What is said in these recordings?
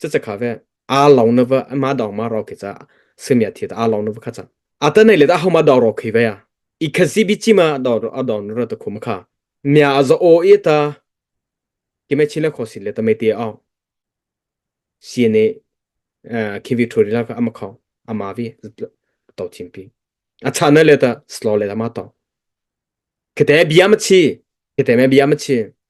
Cici kha ve. A long na va ma dong ma ro khi cha. Simia thi ta a long na va kha cha. A ta nei le ta hau ma dong ro khi ve ya. I kha zi bi chi ma dong a dong ro ta khum kha. Mia a za o i ta. Ki me chin le kho sin le ta me te au. CNA khi vi thuri la ka ama khau. Ama vi to chin pi. A cha na le ta slow le ta ma to. Kate bia ma chi. Kate me bia ma chi.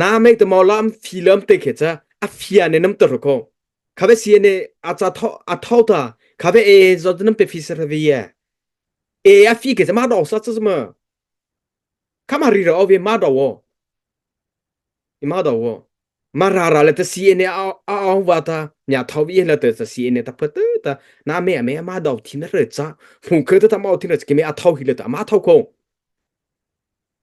na mei te maw lam fi lam te khe cha a fia ne nam tar ko kha ve sia ne a cha tho a tho ta kha ve e zo nam pe fi sa ve ye e a fi ke ma do sa cha ma kama ri ra ove ma do wo ima do wo ma ra ra le ta si ne a a wa ta nya thau vi la ta sa si ne ta pha ta ta na me me ma do thin re cha hu khe ta ma o thin re ke me a thau hi le ta ma thau ko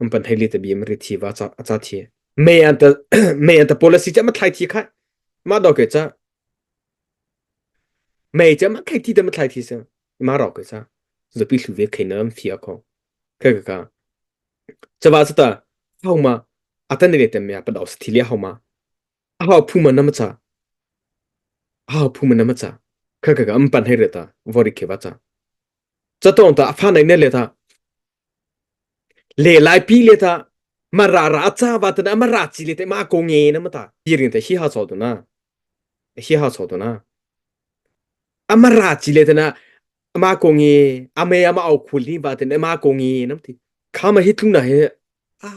An pan thei li te bi ma ri thi va ca a ca thi. Me an ta me an ta policy cha ma thlai thi khai. Ma do ke cha. Me cha ma khai thi te ma thlai thi sa. Ma ro ke cha. Zapi hlu ve khai nam phia ko. Kai ka ka. Chava sa ta. Hau ma. Atan ne te me pa do sa thi li hau ma. A hau phu ma na ma cha. A hau phu ma na ma cha. Kai ka ka an pan thei re ta. Vori ke va cha. Cha tong ta a fa nai ne le ta. Le lai pi le ta mara ra cha va tana mara chi le te ma ko nge na mata tiring te hi ha cho tuna hi ha cho tuna amara chi le tana ama ko nge ame ama au khul hi va ten ama ko nge nam ti khama hi tluna he a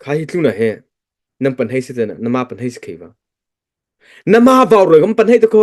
kha hi tluna he nam pan hei se tana nama pan hei se khei va nama vaw roi gam pan hei te ko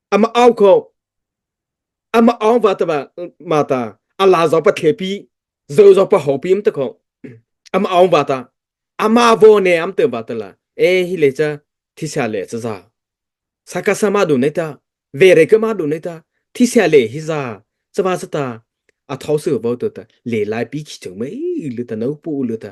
ama au kho ama ong va ta ma ta ala zo pa the pi zo zo pa ho pim ta kho ama ong va ta ama vo ne am te ba ta la e hi le cha thi sa le cha za saka sama du ne ta ve re ka ma du ne ta thi sa le hi za cha ma sa ta a thau su bo to ta le lai pi khi chung mai lu ta no pu lu ta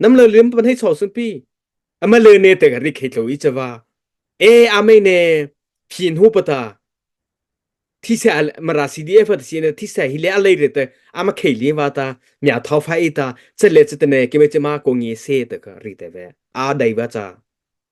nam le liam pan hei chaw sun pi ama le ne te ga ri khei tlo i chava e amei ne phin hu pata thi se al mara cdf at si ne thi se hi le alei re te ama khei li wa ta mya thau fa e ta chet le chetene ke me chema ko ngi se te ka ri te ve a dai wa cha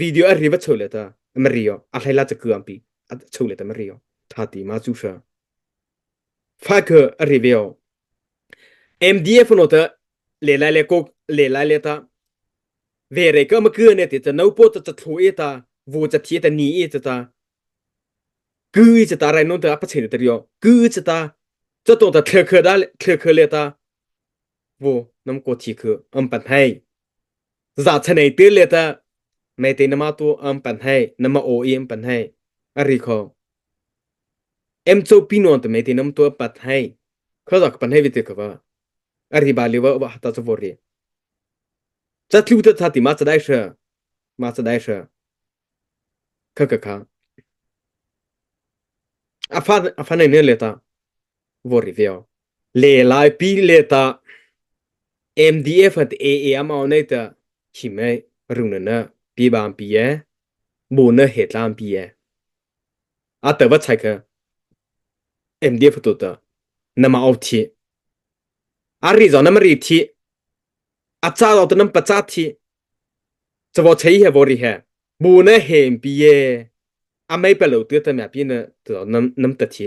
video a rivat cho le ta mari o a hlai la cha kuam pi a cho le ta mari o tha ti ma chu sha fa ke a reveo MDF no ta le lai le ko le lai le ta ve re ka ma ku ne te ta no po ta ta thlo e ta vo cha thi ta ni e ta ta cứ cha ta rai non ta pa chen ta rio cứ cha ta cho to ta thle khe da thle khe le ta vo nam ko thi khe am pan hai Zahchanei te let ah meite na mah tu an pan hai na ma aw i an pan hai a ri kho em cho pi non te meite nam tu pat hai kho dak pan hai vite kha a ri ba le wa wa hata cho ri cha thlu ta tha ti ma cha dai sha ma cha dai sha kha kha kha a fa a fa nei ne le ta wo ri veo Le laipi le ta MDF at AA amao nei ta him ai rung na na pi bam pi e bu na he tlam pi e a ta va chai ka MDF to ta na ma au thi a ri zo na ma ri thi a cha zo to nam pa cha thi chavo chei he vo ri he bu na he pi e a mai pa lo tu ta mya pi na to nam nam ta thi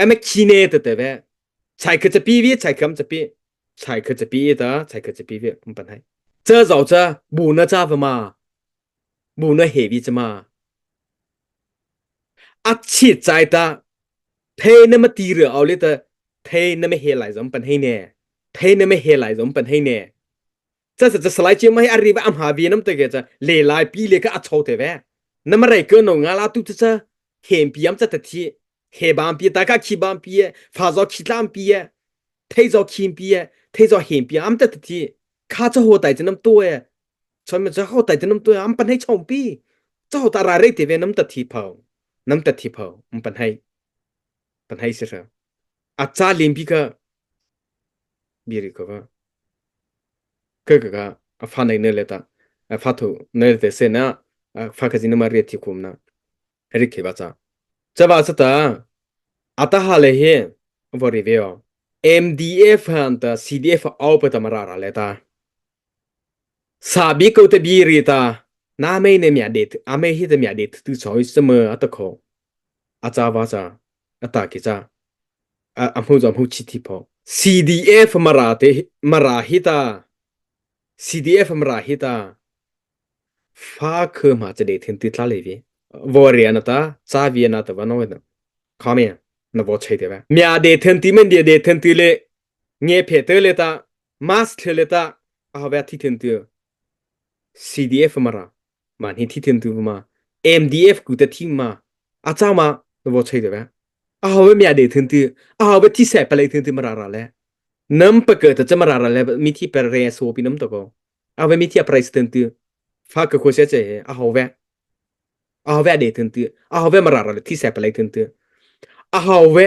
ame khine te te ve chai kha chapi vi chai kam chapi chai kha chapi ta chai kha chapi ve kum pan hai cha zau cha bu na cha va ma bu na he vi chama ak chi chai ta phe na ma ti re au le ta phe na me he lai zom pan hei ne phe na me he lai zom pan hei ne cha sa salai che mai ari ba amha bi nam te ke cha le lai pi le ka acho te ve na mare ko no nga la tu cha hem pi am cha ta thi he bam pi ta ka khi bam pi fa zo khi tlam pi thei zo khim pi thei zo hem pi am ta ta thi kha cha ho tai chnam to e chon me cha ho tai chnam to am pan hei chong pi cha ho ta ra re te ve nam ta thi phau nam ta thi phau um pan hei pan hei se sa a cha lim pi ka Biri ka ka ka ka ka a fa nai ne le ta a fa thu ne te se na fa ka zin ma ri thi kum na ri ke ba cha cha ba sa ta ata ha le hi vori ve o MDF han ta CDF au pa tamara ra le ta sabi ko te biri ta na mei ne mya de a mei hi te mya de tu choi sa me ata kho a cha ba cha a ta ki ca a, a hmu zuam hu chi ti pho CDF mara te mara hi ta CDF mara hi ta fa khe ma che de thin ti tla le vi vo ria na ta cha vi na ta va no na kha me na vo chei te va mya de then ti men dia de then ti le nge phe te le ta mask le ta a ha va thi then ti CDF mara Mah hi thi thiam tu ma MDF ku te thing ma a cha ma na bo chei de ba a ho me de thun ti a ho be thi se pale thun ti mara ra le nam pa ke ta chama ra ra le mi thi per re so pinam to ko a ve mi thi president ti fa ka ko se che a ho ve a ho ve de thun ti a ho ve mara ra le thi se pale thun ti a ho ve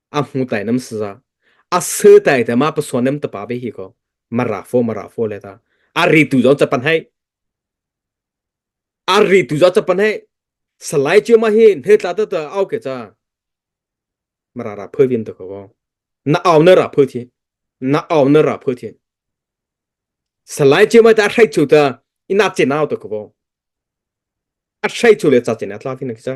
a hmu tai nam sa a sơ tai te ma pa son nem ta pa ve hi ko mara fo mara fo le ta a ri tu zon chapan hai a ri tu zon chapan hai salai che ma hi he tla ta ta au ke cha mara ra phơi vim ta ko na au na ra phơi thi na au na ra phơi thi salai che ma ta hrai chu ta ina chen au ta ko a hrai chu le cha chen a tla thi na ki cha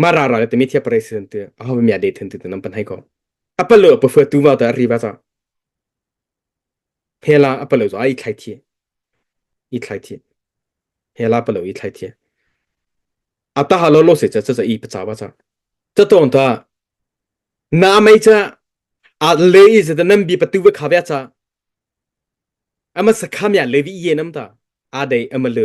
Mah ra ra le timi thia pare si an tiah a ho mia de then tu nan pan hai ko. A pa lo a pafua tu ma ta ri ba cha. Hela a pa lo zo a i thlai thi. I thlai thi. Hela pa lo i thlai thi. A ta ha lo lo se cha cha cha i pa cha ba cha. Cha tong ta na mai cha a le i za nan bi pa tu ve kha vya cha. Ama sa kha mia levi ye nam ta. A dei ama le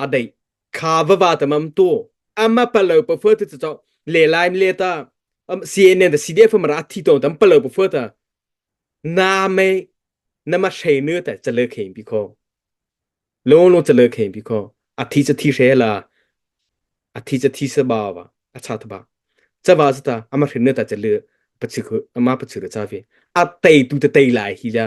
a deih kha va va ta mam tu ama palo pa phua ta chaw le lai le ta CNN da CDF mara thi to tam palo pa phua ta na me na ma she nu ta chale khein bi kho lo lo chale khein bi kho a thi cha thi she la a thi cha thi sa ba ba a cha ta ba cha ba ta ama hrin nu ta chale pa chi khu ama pa chi ra cha fi a tei tu ta tei lai hi la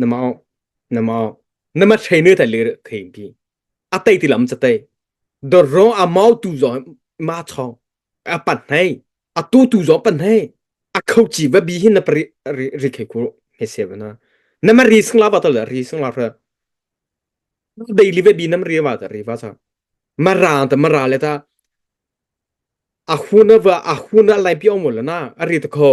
Na mau, na mau, na ma ṭhei ne tai le thei pi. A tei ti lam ca tei. Dorong a mau tu zong ma chong. A pan hei. A tu tu zong pan hei. A khau chi va bi hin na pari ri khe ku he se na. Na ma ri sing la ba to le ri sing la ra. Dei li ve bi nam ri va ta ri va sa. Ma ra ta ma ra le ta. A hun va a hun a lai pi om la na. A ri ta kho.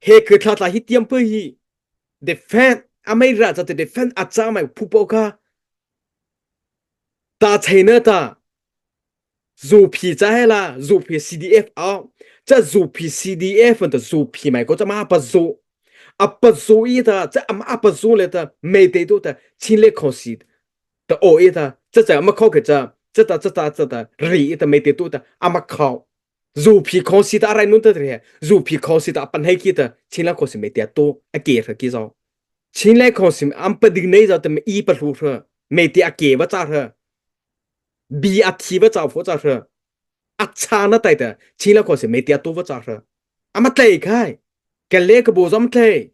he khe thla thla hi tiam pe hi defend ameira cha te defend acha mai phupo kha ta chaina ta zu phi cha hela zu phi CDF a cha zu phi CDF ta zu phi mai ko cha ma pa zu apa zu i ta cha am apa zu le ta mei te tu ta chin le kho si ta o i ta cha cha ma kho ke cha cha ta cha ta cha ta ri i ta mei te tu ta ama kho zu phi kho si ta rai nun ta tre zu phi kho si ta pan hei ki ta chin la kho si me tia to a ke thra ki zo chin le kho si am pa ding nei za te i pa lu thra me ti a ke ba cha thra bi a thi ba cha fo cha thra a cha na tai ta chin la kho si me tia to ba cha thra ama tlai khai cái lễ cái bộ dám tlai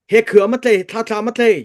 he khứa mà tlai thla thla mà tlai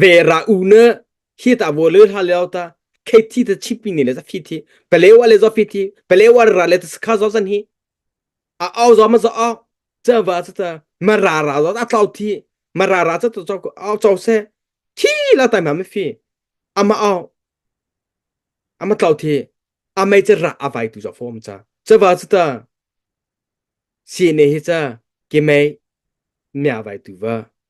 ve ra u ne hi ta bo le hla leo ta khethi ta chippi ni le za fi thi pelewa le zo fi thi pelewa ra le ta skha zo san hi a au zo ma zo au cha va cha ta ma ra ra zo a tlau thi ma ra ra cha to cho au cho se thi la ta ma me fi ama au ama tlau thi amai cha ra avai tu zo form cha cha va cha ta si ne hi cha ke mai mya vai tu va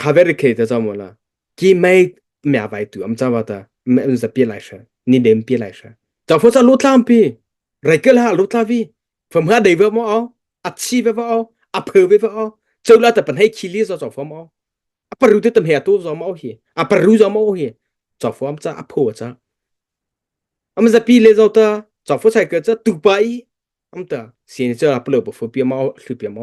kha vere khe ta chamo la ki mai mya vai tu am chawa ta me un za pi lai sha ni dem pi lai sha cha pho sa lu tlam pi rai kel ha lu tla vi phom ha dei ve mo au a chi ve va au a phe ve va au cheu la ta pan hei khili zo cho phom au a paru te tam he tu zo ma hi a paru zo ma hi cho phom cha a pho cha am za pi le zo ta cho pho sai ke cha tu pa i am ta sin cha plo po pho pi ma hlu pi ma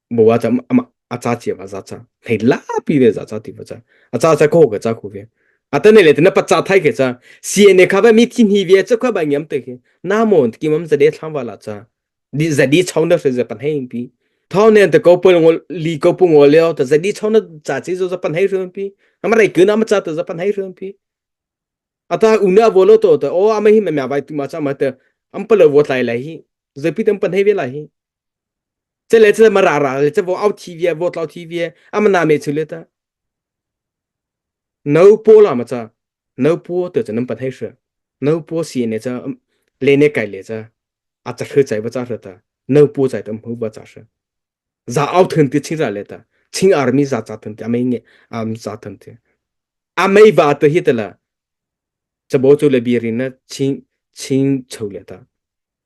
Bo a cham ama a cha chi va za cha thei la pi ve za cha ti va cha a cha cha ko ke cha khu ve atane le tena pacha thai ke cha CNA kha ba mi thi ni ve cha kha ba nyam te ke na mo ki mam za de thang wa la cha di za di chong da se za pan hei pi thau nen te ko pol ngol li ko pu ngol le ta za di chong da cha chi zo za pan hei ru pi amrai ke na ma cha ta za pan hei ru pi ata una volo to ta o ama hi ma mai tu ma cha ma ta am pa lo vo tlai lai hi zapi tam pan hei ve lai hi cele cele ma ra ra le chabo au thi vie vo tlo thi vie amana me chu le ta no po la ma cha no po te cha nam pa thai sha no po si ne cha le ne kai le cha a cha hre chai ba cha hra ta no po chai tam hu ba cha sha za au thun ti ching za le ta ching army za cha thun ti amai nge am za thun ti amai ba te hi tala chabo chu le bi rin na ching ching chau le ta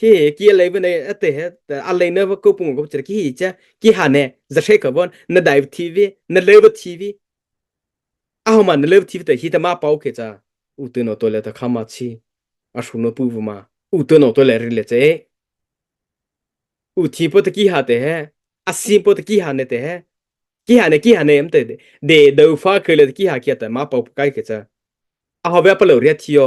Hi ki lei vane ate he alei na va kopung ko chir ki hi che ki ha ne za she ka bon na dai tv na le va tv a ho ma na le tv te hi ta ma pau ke cha u tu no to le ta khama chi a shu no pu ma u tu no to le ri le che u thi po ta ki ha te he a sim po ta ki ha ne te he ki ha ne ki ha ne em te de do fa ke le ki ha kia ta ma pau kai ke cha a ho ba pa lo ria thio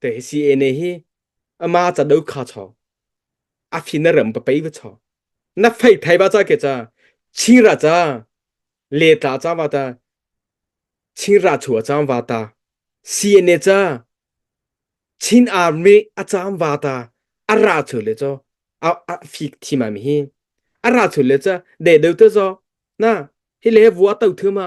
te si ene hi ama cha do kha cho a fin na ram pa pei va cho na fai thai ba cha ke cha chira cha le tla cha wa ta chira chua cham wa ta si ene cha chin army a cham wa ta ara chu le cho a a fik thi ma mi hi ara chu le cha de do te zo na hi le vu a tau thu ma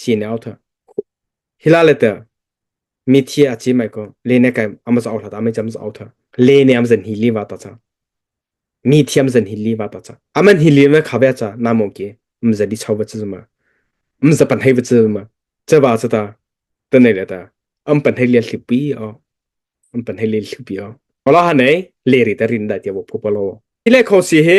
sinau tha hila le te mi thi a chi mai ko le ne kai am za hla ta mai jam za tha le ne am zan hi li wa ta cha mi thiam zan hi li wa ta cha aman hi li me kha be cha na mo ke m za bi chau ba chi ma m za pan hei ba chi ma cha ba cha ta ta nei le ta am pan hei le thli pi o am pan hei le thli pi o ola ha nei le ri ta rin da tia bo pho polo ile kho si he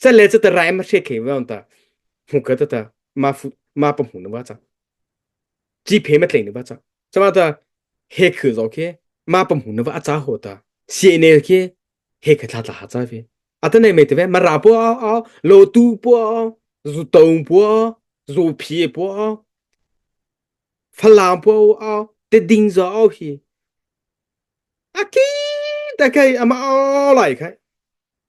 Chat le chat rai ma hriat khe wa ta mu ka ta ta ma fu ma pa mu na wa cha chi phe ma tlei na wa cha chama ta he khư zo khe ma pa mu na wa cha ho ta sie ne khe he kha tha tha ha cha ve atane me te ve ma ra po a lo tu po zu tong po zu phi po falang po a te ding zo hi aki ta kai ama o lai khai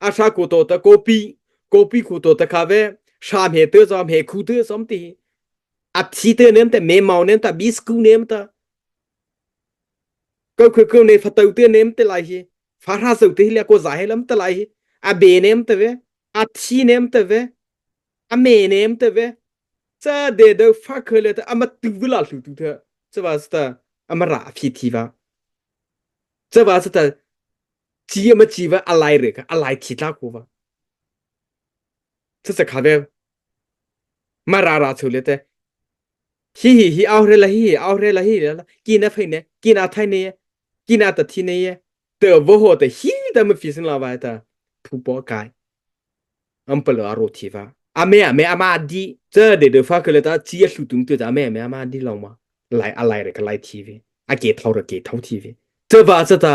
a sha ku to ta kopi kopi khu to ta kha ve sha me te za me khu te som ti a thi te nen ta me mau nen ta bisku nem ta ko khu ko ne fatau te nem te lai hi fa ra sau te le ko za he lam te lai hi a be nem te ve a thi nem te ve a me nem te ve cha de de fa khe le ta ama tu la hlu tu te cha ba sta amara phi thi ba cha ba sta ci ama ci va a lai re ka a lai thi tla ku va thu se kha ve ma ra ra chu le te hi hi hi au re la hi au re la hi la ki na phai ne ki na thai ne ki na ta thi ne te vo ho te hi ta ma fi sin la va ta phu po kai am palo aro thi va ame ame ama di chơ de de fa ke le ta chi a hlu tung tu ta ame ame ama di long ma lai a lai re ka lai thi ve a ke thau re ke thau thi ve chơ va cha ta